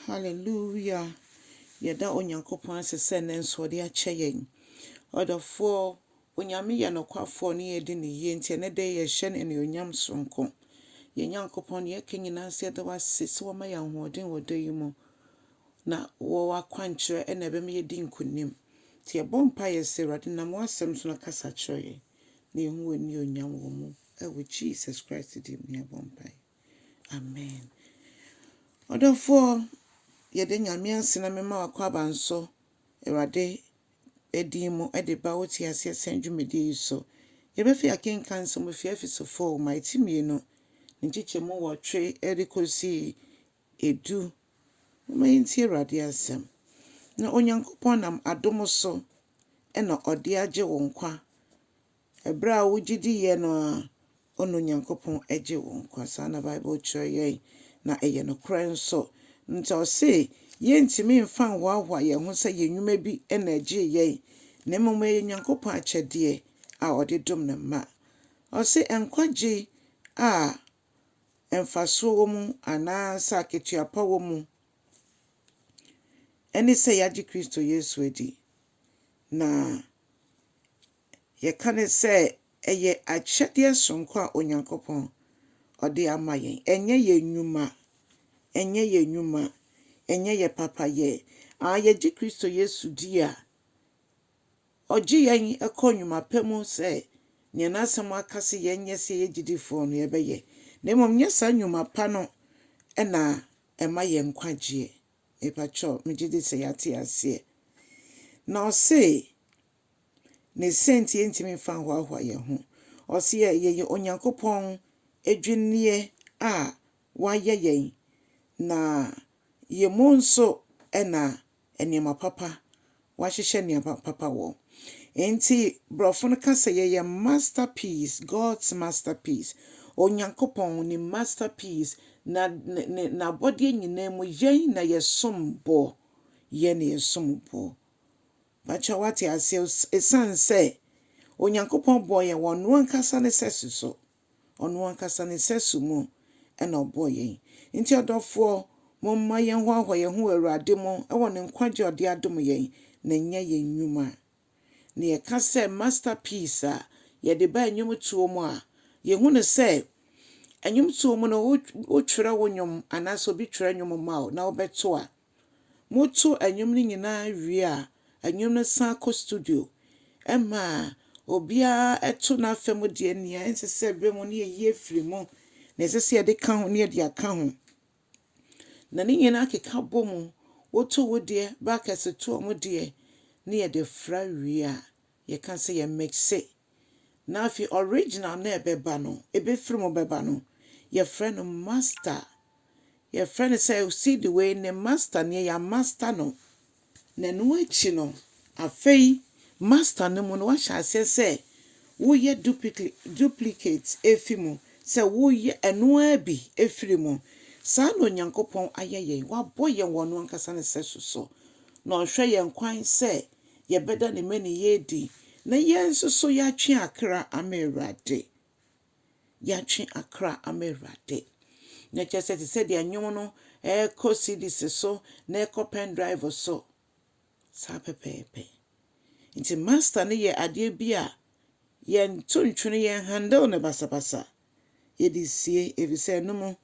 Hallelujah! Yɛda Onyankopɔn ase sɛ nnɛ nso ɔde akyɛ yɛn. Ɔdɔfoɔ, Onyame yɛ nokwafoɔ ne yɛdi ne yie nti ɛnnɛ da yi yɛhyɛ no anuonyam sononko. Yɛn Nyankopɔn deɛ yɛka nyinaa nso yɛda wo ase sɛ woama yɛn ahoɔden wɔ da yi mu na wɔ w'akwankyerɛ ɛna ɛbɛma yɛdi nkonim. Nti yɛbɔ mpaeɛ sɛ Awurade nam w'asɛm so no kasa kyerɛ yɛn na yɛhu w'anuonyam wɔ mu. Ɛwɔ Jesus Christ din mu na yɛbɔ mpaeɛ. Amen. Ɔdɔfoɔ, yɛda Nyame ase na mema w'akwaban so, Awurade din mu de ba wo Te Aseɛ Sɛn dwumadie yi so. Yɛbɛfi akenkan nsɛm ɛfiri Efeso foo ma ɛti mmienu, ne nkyekyɛmu nwɔtwe ɛde kɔsi edu. Moma yɛntie Awurade asɛm. Na Onyankopɔn nam adom so na ɔde agye wo nkwa Ɛberɛ a wogye di yɛ no ara, ɔno Nyankopɔn gye wo nkwa. Saa na Bible kyerɛ yɛn, na ɛyɛ nokorɛ nso. Nti ɔse yɛntumi mfa nhoahoa yɛn ho sɛ yɛn nnwuma bi na ɛgyee yɛn, na mmom ɛyɛ Nyankopɔn akyɛdeɛ a ɔde dom ne mma. Ɔse nkwagye a mfasoɔ wɔ mu anaa sɛ akatua pa wɔ mu ne sɛ yɛagye Kristo Yesu adi, na. Yɛka no sɛ ɛyɛ akyɛdeɛ sononko a Onyankopɔn ɔde ama yɛn. Ɛnyɛ yɛn nnwuma, ɛnyɛ yɛn nnwuma, ɛnyɛ yɛn papayɛ. Aa, yɛgye Kristo Yesu di a, ɔgye yɛn kɔ nnwuma pa mu sɛ nea n'asɛm aka sɛ yɛnyɛ sɛ yɛyɛ gyidifoɔ no yɛbɛyɛ. Na mmom nyɛ saa nnwuma pa no na ɛma yɛn nkwagyeɛ. Mepakyɛw, megye di sɛ yɛate aseɛ. Na ɔse, Ne sɛnti yɛntumi mfa nhoahoa yɛn ho. Ɔseɛ yɛyɛ Onyankopɔn adwinneɛ a wayɛ yɛn, na yɛn mu nso na nneɛma papa, wahyehyɛ nneɛma papa wɔ. Enti borɔfo no ka sɛ yɛyɛ masterpiece, God's masterpiece, Onyankopɔn ne masterpiece, na ne ne n'abɔdeɛ nyinaa mu yɛn na yɛsom boɔ, yɛn na yɛsom boɔ. Pakyɛw wate aseɛ os esiane sɛ Onyankopɔn bɔɔ yɛn wɔ Ɔno ankasa ne sɛso so. Ɔno ankasa ne sɛso mu na Ɔbɔɔ yɛn. Nti ɔdɔfoɔ, momma yɛnhoahoa yɛn ho wɔ Awurade mu wɔ Ne nkwagyeɛ a Ɔde adom yɛn, na ɛnyɛ yɛn nnwuma. Na yɛka sɛ Masterpiece a yɛde ba nnwomtoɔ mu a, yɛhu no sɛ nnwomtoɔ mu no wo wotwerɛ wo nnwom anaasɛ obi twerɛ nnwom ma wo na wobɛto a, Moto nnwom no nyinaa wie a, nnwom no san kɔ studio ma obiara to n'afa mu deɛ, nea ɛnsɛ sɛ ɛbam no yɛyi afiri mu, nea ɛsɛ sɛ yɛde ka ho no yɛde aka ho. Na ne nyinaa keka bɔ mu, woto wo deɛ, backers to wɔn deɛ, na yɛde fra wie a, Yɛka sɛ yɛ mix-e. Na afei original no a ɛbɛba no, ɛbɛfiri mu bɛba no, yɛfrɛ no master. Yɛfrɛ no sɛ CD wei ne master nie, yɛamaster no. Na ɛno akyi no, afei master no mu no woahyɛ aseɛ sɛ woyɛ duplicate ɛfiri mu, sɛ woyɛ ɛno ara bi ɛfiri mu. Saa na Onyankopɔn ayɛ yɛn. Wabɔ yɛn wɔ ɔno ankasa ne sɛso so, na ɔhwɛ yɛn kwan sɛ yɛbɛda ne mmaninyɛ adi, na yɛn nso so yɛatwe akra ama Awurade. Yɛatwe akra ama Awurade. Na kyerɛ sɛ te sɛ deɛ nnwom no ɛrekɔ CDs so na ɛkɔ pen drive so. Saa pɛpɛɛpɛ. Nti master no yɛ adeɛ bi a yɛnto ntwene yɛn handle no basabasa. yɛde sie efisɛ ɛno mu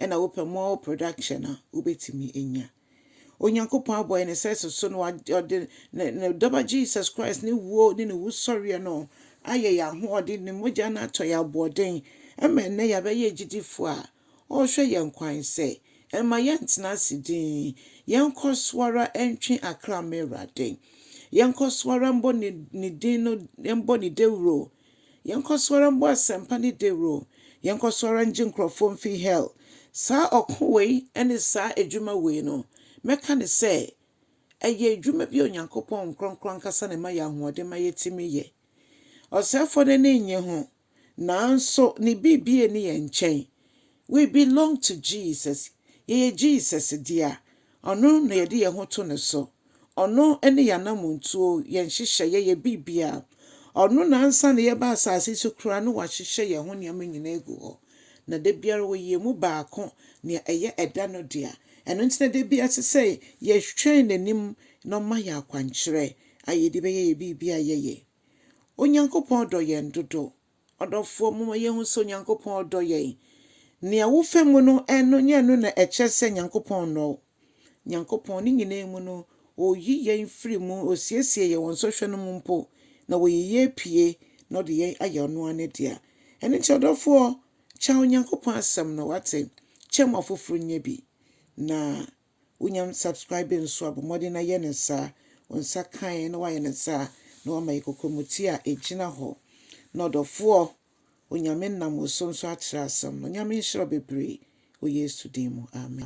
na wopɛ more production a wobɛtumi anya. Onyankopɔn abɔ yɛn sɛ so so na ɔde ne dɔba Jesus Christ ne wuo ne ne wusɔreɛ no ayɛ yɛn ahoɔden, ne mogya no atɔ yɛn aboɔden ma ɛnnɛ yɛabɛyɛ agyidifoɔ a ɔrehwɛ yɛn kwan sɛ mma yɛntena ase dinn, yɛnkɔ so ara ntwe akra mma Awurade, yɛnkɔ so ara mbɔ ne din no, mbɔ ne dawuro. Yɛnkɔ so ara mbɔ asɛmpa no dawur o, yɛnkɔ so ara ngye nkorɔfo mfi hɛl. Saa ɔkõ wei ne saa edwuma wei no, mɛkã no sɛ, ɔyɛ edwuma bi a Onyankopɔn nkorɔnkrɔn ankasa na ɛma yɛ ahoɔden ma yɛtumi yɛ. Ɔsɛɛfoɔ no ani nnye ho, naaso ne biribi nni yɛn nkyɛn. We belong to Jesus, yɛyɛ Jesus dea, Ɔno na yɛde yɛn ho to No so, Ɔno ne yɛn anamontuo, yɛn nhyehyɛeɛ, yɛn biribiara. Ɔno na ansa na yɛreba asase yi so koraa no Wahyehyɛ yɛn ho nneɛma nyinaa agu hɔ, na da biara Ɔyɛ yɛn mu baako, nea ɛyɛ ɛda no dea. Ɛno nti na da biara ɛsɛ sɛ yɛtwɛn N'anim na Ɔma yɛn akwankyerɛ a yɛde bɛyɛ yɛn biribiara a yɛyɛ. Onyankopɔn dɔ yɛn dodo. Ɔdɔfoɔ, momma yɛnhu sɛ Onyankopɔn dɔ yɛn. Nea wofa mu no, ɛno, nyɛ ɛno na ɛkyerɛ sɛ Nyankopɔn nnɔ wo. Nyankopɔn, ne nyinaa mu no, Ɔyi yɛn firi mu, Ɔsiesie yɛn wɔ nsɔhwɛ no mu mpo, na Ɔyi yɛn pue, na Ɔde yɛn ayɛ Ɔno ara Ne dea. Ɛno nti, ɔdɔfoɔ, kyɛ Onyankopɔn Asɛm no, woate? Kyɛ ma afoforɔ nnya bi, na wonya subscribe nso a, bɔ mmɔden na yɛ no saa. Wo nsa kae na woayɛ no saa na woama yɛ kɔkɔmuti a ɛgyina hɔ. Na ɔdɔfoɔ, Onyame nam wo so nso akyerɛ asɛm no. Onyame nhyira wo bebree wɔ Yesu din mu. Amen.